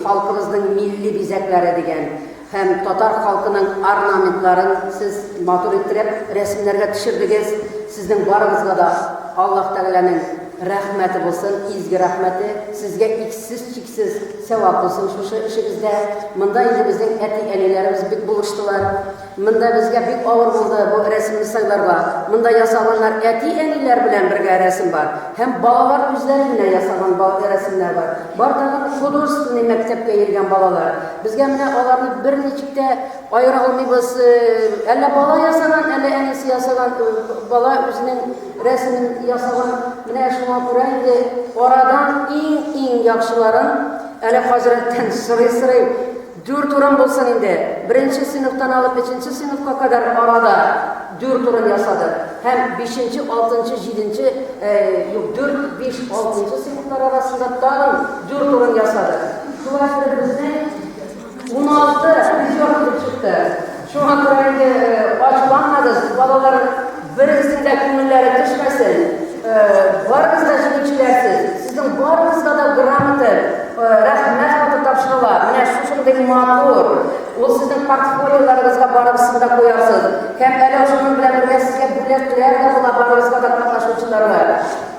Халкыбызның милли бизәкләре дигән һәм татар халкының орнаментларын сез матур иттереп рәсемнәргә төшердегез. Сезнең барыгызга да Аллаһ Тәгаләнең рәхмәте булсын, изге рәхмәте. Сезгә иксез-чиксез сәвап булсын шушы эшегездә. Монда инде безнең әти-әниләребез бик булыштылар. Монда безгә бик авыр булды бу рәсемне сайларга. Монда ясаганнар әти-әниләр белән бергә рәсем бар һәм балалар үзләре генә ясаган ба рәсемнәр бар. Бар тагын художественный мәктәпкә йөргән балалар. Безгә менә аларны берничек тә аера алмыйбыз. Әллә бала ясаган, әллә әнисе ясаган, бала үзенең рәсемен ясаган. Менә шуңа күрә инде арадан иң-иң яхшыларын әле хәзрәттән сорый-сорый Дүрт урын булсын инде. Беренче сыйныфтан алып өченче сыйныфка кадәр арада дүрт урын ясадык. Һәм бишенче, алтынчы, җиденче, юк, дүрт, биш, алтынчы сыйныфлар арасында тагын дүрт урын ясадык. Шулай итеп безнең уналты призер килеп чыкты. Шуңа күрә инде ачуланмагыз, балалар берегезнең дә күңелләре төшмәсен. Барыгыз да җиңүчеләрсез. Сезнең барыгызга да грамота, рәхмәт хаты тапшырыла. Менә шушындый матур. Ул сезнең портфолиоларыгызга барыгызны да куярсыз. Һәм әле шуның белән бергә сезгә бүләкләр дә була барыгызга да катнашучыларга.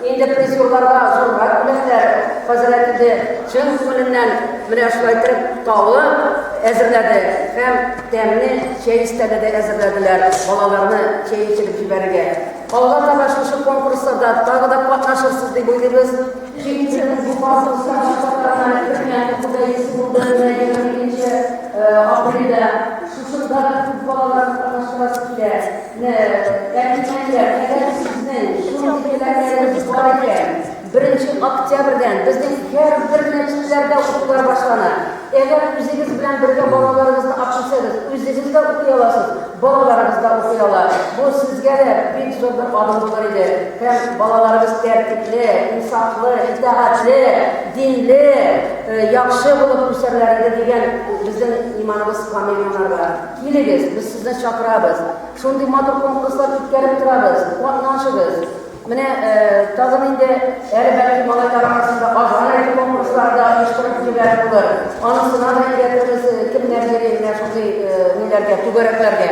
Инде призерларга зур рәхмәтләр, хәзрәт инде чын күңеленнән менә шулай итеп таулы әзерләде һәм тәмле чәй өстәле дә әзерләделәр балаларны чәй эчереп җибәрергә. Алга таба шушы конкурсларда тагы да катнашырсыз дип уйлыйбыз. Җиңүчебез бу фасыл сәнгать шартларына кертелгән укуда есе булды, менә егерме икенче апрельдә шушында да күп балаларны катнаштырасы килә. Менә кәнтишләр, әгәр сезнең шундый теләкләрегез бар икән, беренче октябрьдән безнең һәрбер мәчетләрдә укулар башлана. Әгәр үзегез белән бергә балаларыгызны акчасагыз, үзегез дә укый аласыз, балаларыгыз да укый ала. Бу сезгә дә бик зур бер адым булыр иде. Һәм балаларыгыз тәртипле, инсафлы, итагатьле, динле, э, яхшы булып үсәрләр иде дигән безнең иманыбыз камил монарга. Килегез, без сезне чакырабыз. Шундый матур конкурслар үткәреп торабыз. Катнашыгыз. Менә тагын инде әле бәлки малайлар арасында азгынай конкурслар да оештырып җибәрә булыр. Анысына да ияртәбез, кемнәр йөри менә шундый ниләргә, түгәрәкләргә.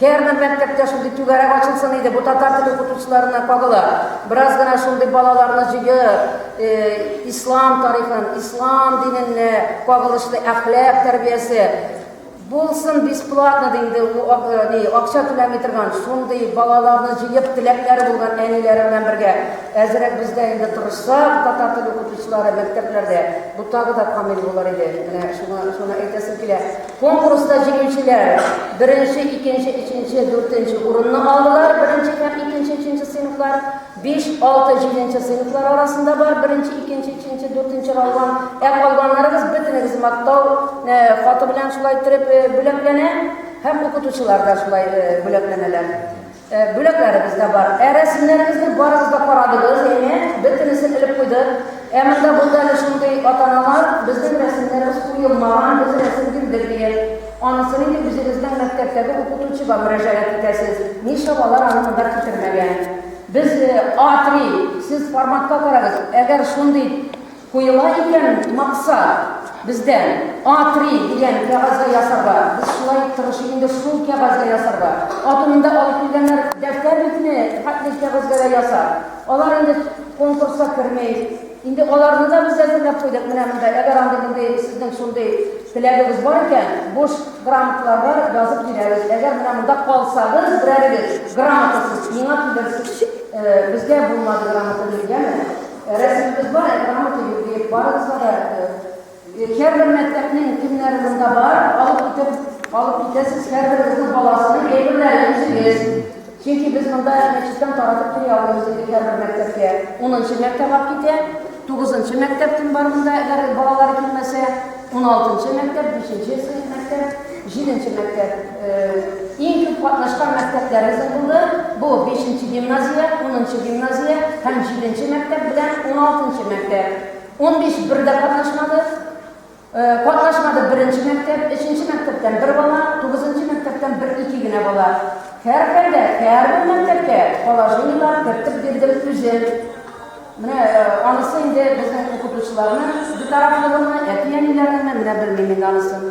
Һәрбер мәктәптә шундый түгәрәк ачылсын иде. Бу татар теле укытучыларына кагыла. Бераз гына шундый балаларны җыеп, ислам тарихын, ислам диненә кагылышлы әхлак тәрбиясе, Булсын бесплатно дигәндә, ул акча түләми торган, шундый балаларны җыеп, теләкләре булган әниләре белән бергә. Әзерәк бездә инде тырышсак, татар теле укытучылары мәктәпләрдә, бу тагы да камил булыр иде. Менә шуңа шуны әйтәсем килә. Конкурста җиңүчеләр беренче, икенче, өченче, дүртенче урынны алдылар, беренче һәм икенче, өченче сыйныфлар. Биш, алты, җиденче сыйныфлар арасында бар, беренче, икенче, өченче, дүртенче калган. Ә калганнарыгыз бөтенегез мактау э, хаты белән шулай төреп э, бүләкләнә һәм укытучылар да шулай э, бүләкләнәләр. Э, бүләкләребез дә бар. Ә рәсемнәребезне барыгыз да карадыгыз, әйме? Бөтенесен элеп куйдык. Ә монда булды әле шундый ата-аналар, безнең рәсемнәребез куелмаган, без рәсем бирдек дигән. Анысы нинди үзегезнең мәктәптәге укытучыга мөрәҗәгать итәсез, нишләп алар аны монда китермәгән? Без А3, сез форматка карагыз, әгәр шундый куела икән максат бездә А3 дигән кәгазьгә ясарга, без шулай тырышыйк инде шул кәгазьгә ясарга. Атынында алып килгәннәр дәфтәр битне хәтле кәгазьгә дә ясар. Алар инде конкурска керми. Инде аларны да без әзерләп куйдык. Менә монда, әгәр андый мондый сезнең шундый теләгегез бар икән, буш грамоталарга язып бирәбез. Әгәр менә монда калсагыз, берәрегез грамотасыз миңа килерсез. Э, безгә булмады грамота биргәме? Э, рәсемебез бар, ә грамота юк диеп, барыгызга да э, Һәрбер мәктәпнең кемнәре монда бар, алып китеп алып китәсез, һәрберегезнең баласының әйберләрен үзегез. Чөнки без монда мәчеттән таратып килә алмыйбыз инде һәрбер мәктәпкә. Унынчы мәктәп алып китә, тугызынчы мәктәп кем бар монда, әгәр балалары килмәсә, уналтынчы мәктәп, бишенче сыйныф мәктәп, җиденче мәктәп. Иң күп катнашкан мәктәпләребез булды. Бу бишенче гимназия, унынчы гимназия һәм җиденче мәктәп белән уналтынчы мәктәп. 15 бер дә катнашмады. Катнашмады беренче мәктәп, өченче мәктәптән бер бала, тугызынчы мәктәптән бер ике генә бала. Һәрхәлдә, һәрбер мәктәпкә положениелар кертеп бирдем үзем. Менә анысы инде безнең укытучыларның битарафлыгымы, әти-әниләрнеңме, менә белмим инде анысын.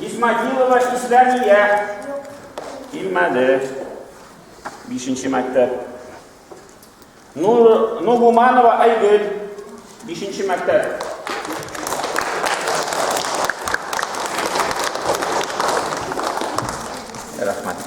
Исмагилова Исләмия. Килмәде. Бишенче мәктәп. Нур, Нугуманова Айгөл. Бишенче мәктәп. Рәхмәт.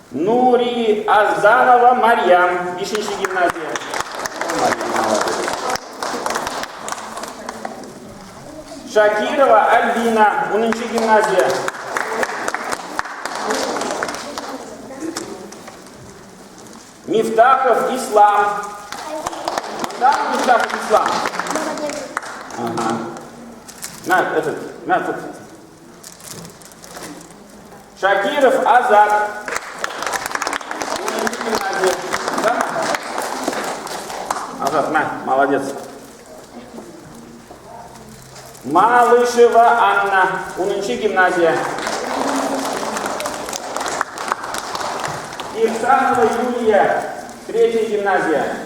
Нури Азданова Марьям, бишенче гимназия. Шакирова Альбина, унынчы гимназия. Мифтахов Ислам. Да, Мифтахов Ислам. Ага. На, этот, на, тут. Шакиров Азат. Азат, на, молодец. Малышева Анна, Унынчы гимназия. Ирсанова Юлия, третья гимназия.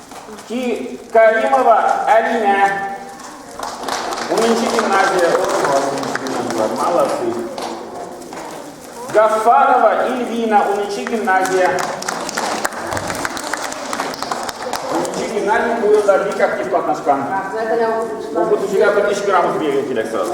И Каримова Алина. Унынчы гимназия. Молодцы. Гафарова Ильвина, унынчы гимназия. Унынчы гимназия бу елда бик актив катнашкан. Укытучыга бер эш грамот бирергә кирәк сразу.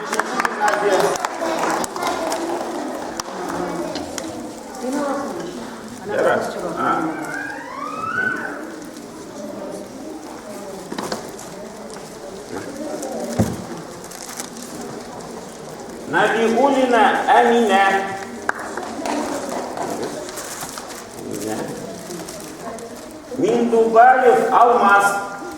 Набигулина Амина. Миндубаев Алмаз.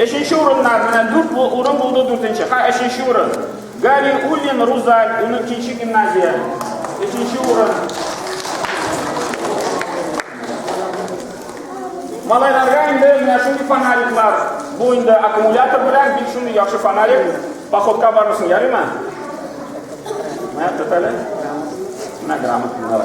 Өченче урыннар менә дүрт урын булды дүртенче. Ха, өченче урын. Гали Уллин Рузаль, 12 гимназия. Өченче урын. Малайларга инде менә шундый фонариклар. Бу инде аккумулятор белән бик шундый яхшы фонарик. Походка бармысын, ярыймы? Менә тотәле. Менә грамоталар.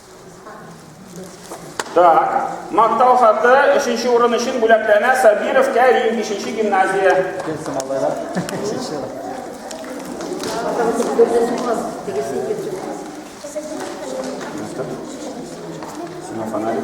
Так. Мактау хаты өченче урын өчен бүләкләнә Сабиров Кәрим, 5 гимназия. Кемсем алайда? Өченче урын. Сина фонарик.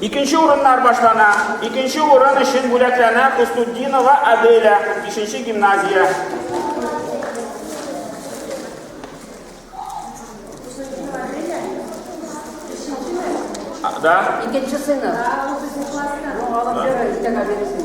Икенче урыннар башлана. Икенче урын өчен бүләкләнә Хустуддинова Аделя, 5 гимназия. Да? Икенче сыйны. Ну, алып йөрегез, тәңә биресен.